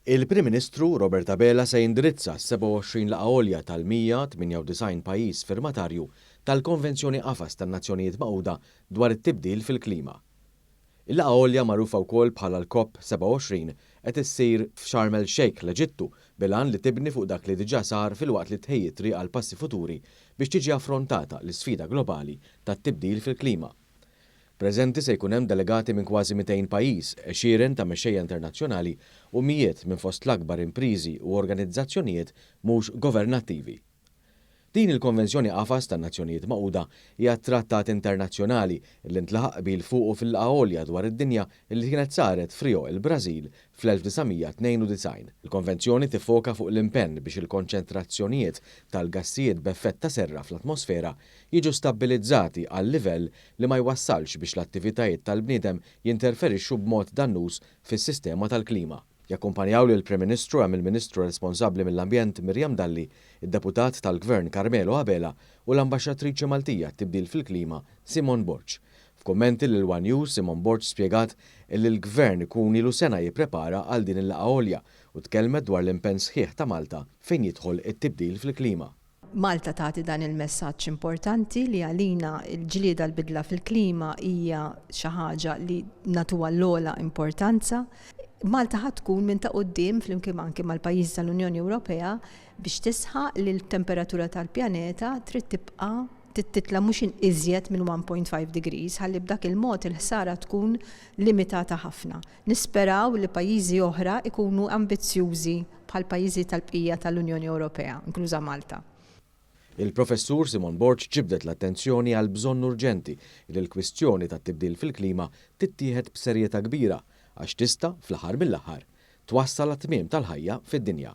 Il-Prim Ministru Robert Abela se jindirizza s-27 laqgħa għolja tal-198 pajjiż firmatarju tal-Konvenzjoni Qafas tan-Nazzjonijiet Magħquda dwar it-Tibdil fil-Klima. Il-laqgħa għolja magħrufa wkoll bħala l-COP 27 qed issir f'Sharm El Sheikh, l-Eġittu, bil-għan li tibni fuq dak li diġà sar filwaqt li tħejji t-triq għal passi futuri biex tiġi affrontata l-isfida globali tat-tibdil fil-klima. Preżenti se jkun hemm delegati minn kważi 200 pajjiż, għexieren ta' mexxejja internazzjonali u mijiet minn fost l-akbar impriżi u organizzazzjonijiet mhux governattivi. Din il-Konvenzjoni Qafas tan-Nazzjonijiet Magħquda hija t-trattat internazzjonali li ntlaħaq qbil fuqu fil-Laqgħa Għolja dwar id-Dinja li kienet saret f'Rio, il-Brażil, fl-1992. Il-Konvenzjoni tiffoka fuq l-impenn biex il-konċentrazzjonijiet tal-gassijiet b'effett ta' serra fl-atmosfera jiġu stabbilizzati għal livell li ma jwassalx biex l-attivitajiet tal-bniedem jinterferixxu b'mod dannuż fis-sistema tal-klima. Jakkumpanjaw lill-Prim Ministru hemm il-Ministru responsabbli mill-Ambjent Miriam Dalli, id-Deputat tal-Gvern Carmelo Abela u l-Ambaxxatriċi Maltija għat-Tibdil fil-Klima Simone Borg. F'kummenti lil one News Simone Borg spjegat illi l-Gvern ikun ilu sena jipprepara għal din il-laqgħa għolja u tkellmet dwar l-impenn sħiħ ta' Malta fejn jidħol it-tibdil fil-klima. Malta tagħti dan il-messaġġ importanti li għalina l-ġlieda għall-bidla fil-klima hija xi ħaġa li nagħtuha l-ogħla importanza. Malta ħa tkun minn ta' quddiem flimkien anki mal-pajjiżi tal-Unjoni Ewropea biex tisħaq li l-temperatura tal-pjaneta trid tibqa' titla' mhux iżjed minn 1.5 degrees ħalli b'dak il-mod il-ħsara tkun limitata ħafna. Nisperaw li pajjiżi oħra jkunu ambizzjużi bħall-pajjiżi tal-bqija tal-Unjoni Ewropea, inkluża Malta. Il-Professur Simone Borg ġibdet l-attenzjoni għall-bżonn urġenti li l-kwistjoni tat-tibdil fil-klima tittieħed b'serjetà kbira għax tista', fl-aħħar mill-aħħar, twassal għat-tmiem tal-ħajja fid-dinja.